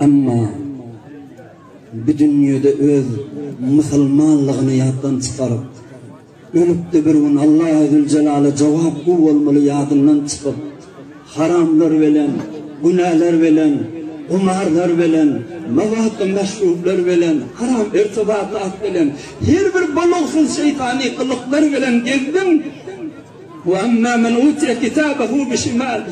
Emma bu dünýede öz musulmanlygyny ýatdan çykaryp, ölüp-de bir gün Allahy-Züljelala jogap gowy bolmaly ýadyndan çykyp, haramlar bilen, günäler bilen, gumarlar bilen, mewatda meşrublar bilen, haram irtibatat bilen, her bir bolagsyz şeýtany gylyklar bilen gezdiň. Wa amma men utiýa kitabahu bi şimali.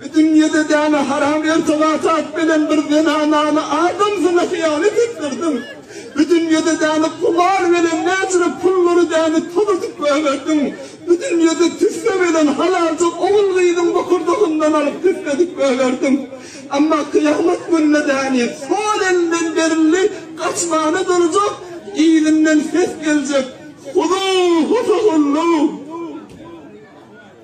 Bu dünýede däne haram irtibat at bilen bir zenanany adamsyna hyýanat etdirdiň. Bu dünýede däne kumar bilen näçe pullary däne tozujyk goýberdiň. Bu dünýede tüsse bilen halalja ogul-gyzyň bokurdagyndan alyp tüsse edip goýberdiň. Emma kyýamat gününe däni sol elden berildi gaçmana durjak, yzyndan ses geljek, Huzuhu fahulluh!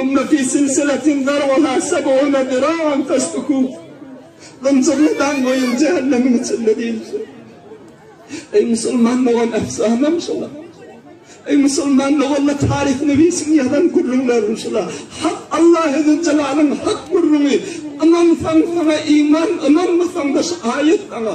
Ümmi fi silsiletin zar'uha seb'une zira'an feslukuh. Zynjyrly daň goýuň, jähennemiň içinde diýilipdir. Eý, musulman dogan, efsanam şular. Eý, musulman doganda taryh newisiň ýazan gürrüňlerim şular. Hak Allahy Zülcelalyň hak gürrüňi, Ynansaň, saňa iman, ynanmasaň-da şu aýat saňa.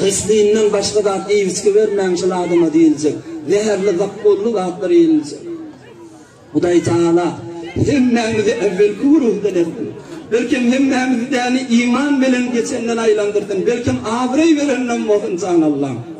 Gyslyňdan başga zat iýibiçgi bermäň şol adama diýiljek. Zäherli zakkolly zatlar iýiljek. Hudaý Tagala hemmämizi äwelki gururdan etsin. Belkem hemmämizi däni iman bilen geçenden aýlandyrsyn. Belkem abraý bereninem bolsun jan Allam.